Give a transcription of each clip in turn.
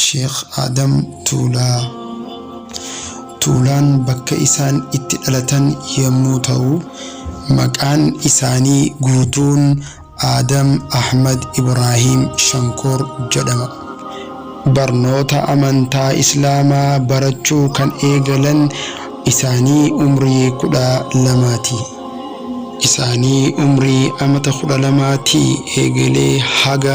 Sheekh Aadam Tuulaa Tuulaan bakka isaan itti dhalatan yommuu ta'u, maqaan isaanii guutuun Aadam Ahmad Ibraahiim Shankoor jedhama. Barnoota amantaa Islaamaa barachuu kan eegalan isaanii umrii 12 ti. Isaanii umrii amata 12 tii eegalee haga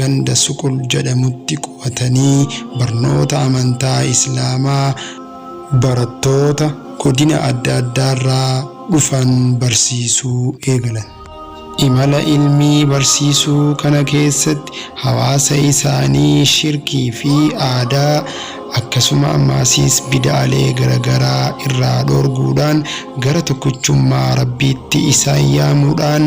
ganda Suqul jedhamutti qubatanii barnoota amantaa Islaamaa barattoota godina adda addaarraa dhufan barsiisuu eegalan. Imala ilmi barsiisuu kana keessatti hawaasa isaanii shirkii fi aadaa akkasuma ammaasiis bida'alee garagaraa irraa dhoorguudhaan gara tokkichummaa Rabbiitti isaan yaamuudhaan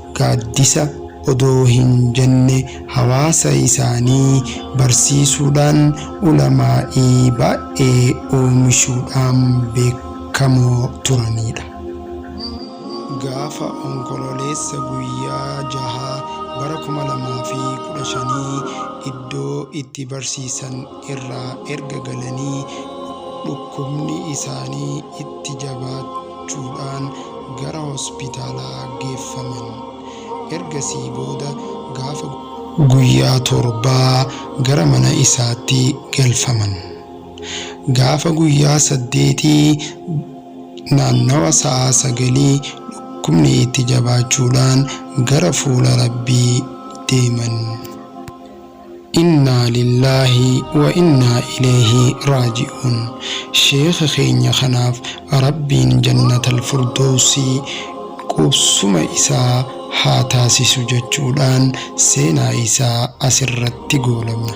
Gaaddisa odoo hin jenne hawaasa isaanii barsiisuudhaan ulamaa'ii baay'ee oomishuudhaan beekamoo turaniidha. Gaafa Onkololeessa guyyaa 6 bara 2015 iddoo itti barsiisan irraa erga galanii dhukkubni isaanii itti jabaachuu. jechuudhaan gara hospitaalaa geeffaman. Ergasii booda gaafa. guyyaa torbaa gara mana isaatti galfaman. Gaafa guyyaa saddeetii naannawa sa'aa sagalii dhukkubni itti jabaachuudhaan gara fuula Rabbii deeman. Innaa lillaahi wa innaa ileeyhi raaji'uun Sheekha keenya kanaaf Rabbiin jannatal furdoowsii qubsuma isaa haa taasisu jechuudhaan seenaa isaa asirratti goolabna.